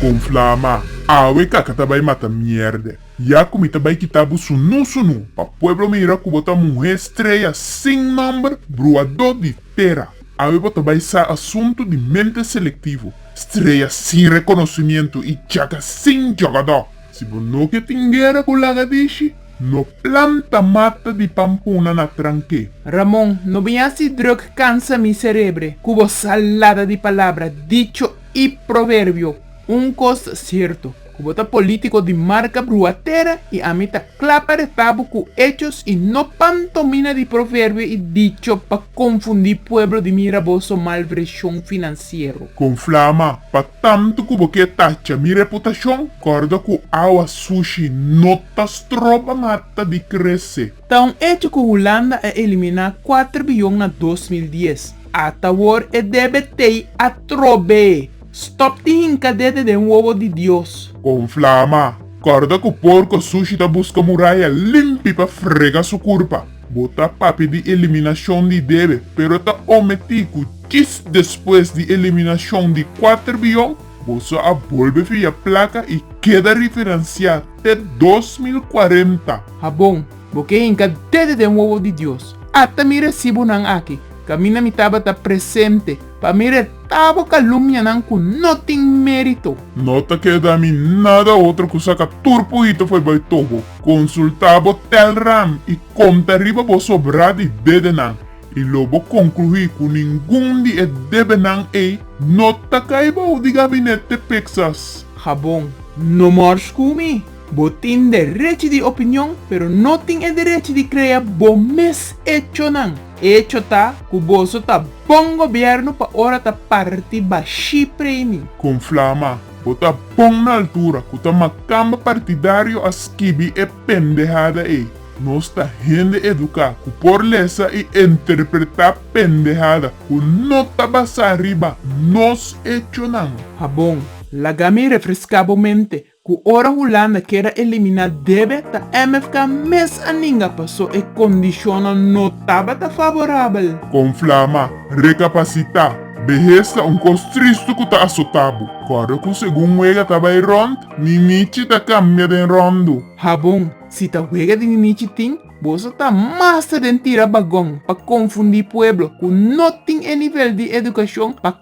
Con flama, awe kaka ta bay mata mierde. Ya cu mi ta bay kita bo sunu sunu, pa pueblo mira cu bo ta muhe streya sin nomber, bruado di tera. Awe bo ta bay sa asunto di mente selectivo, streya sin reconocimiento y chaka sin jogador. Si bo no ke tin guera ku lagadishi, no planta mata di pampuna na trank'é. Ramon, no bin hasi druk kansa mi serebre ku bo salada di palabra, dicho i proverbio. Un kos ta sierto, ku bo ta polítiko di marka brua tera i ami ta kla pa reta bo ku echos i no pantomina di proverbio i dicho pa konfundí pueblo di mira bo so malvreshon finansiero. Kon flama pa Tantu ku bo ke tacha mi reputashon, kòrda ku awa sushi no ta stroba mata di krese. Ta un echo ku Hulanda a eliminá kuater biyon na dos mil dies. Atawor e debe tei atrobe! Stòp di hinka dede den wowo di Dios! Kon flama, kòrda ku porko sushi ta buska muraya limpi pa frega su kurpa. Bo ta papia di eliminashon di debe, pero ta ometí ku djis despues di eliminashon di kuater biyon, bo so a bolbe fia plaka i keda riferensiá te dos mil kuarenta. Ha bon, bo ke hinka dede den wowo di Dios. Ata mi resibonan aki, kaminda mi tabata presente. Pa mi retabo kalumnianan ku no tin mérito. No ta keda mi nada otro ku saka tur puhito fo'i bai tobo, konsultá bo tèlram i konta riba bo sobrá di dedenan, i lo bo konkluí ku ningun di e debenan ei no ta kai bou di gabinet te peksas. Habon. No mors ku mi. Bo tin derechi di opinion, pero no tin e derechi di krea bo mes echonan. Echo ta cu boso ta bon gobierno pa ora ta parti bashi premi. Con flama, bo ta bon na altura cu ta macamba partidario a skibi e pendehada ey. Nos ta hende educa cu por lesa y interpreta pendehada cu no ta basa riba nos echonan. Habon, laga mi refresca bo mente. Ku ora Hulanda keda eliminá debe ta MFK mes a ninga pasó e kondishonnan no tabata faborabel. Kon Flama rekapasitá, Behes ta un kos tristu ku ta asotá bo. Kòrda ku segun wega ta bai rònt, Ninichi ta kambia den ròndu. Habon, Si ta wega di Ninichi tin, boso ta masta den tira bagon pa konfundí pueblo ku no tin e nivel di edukashon pa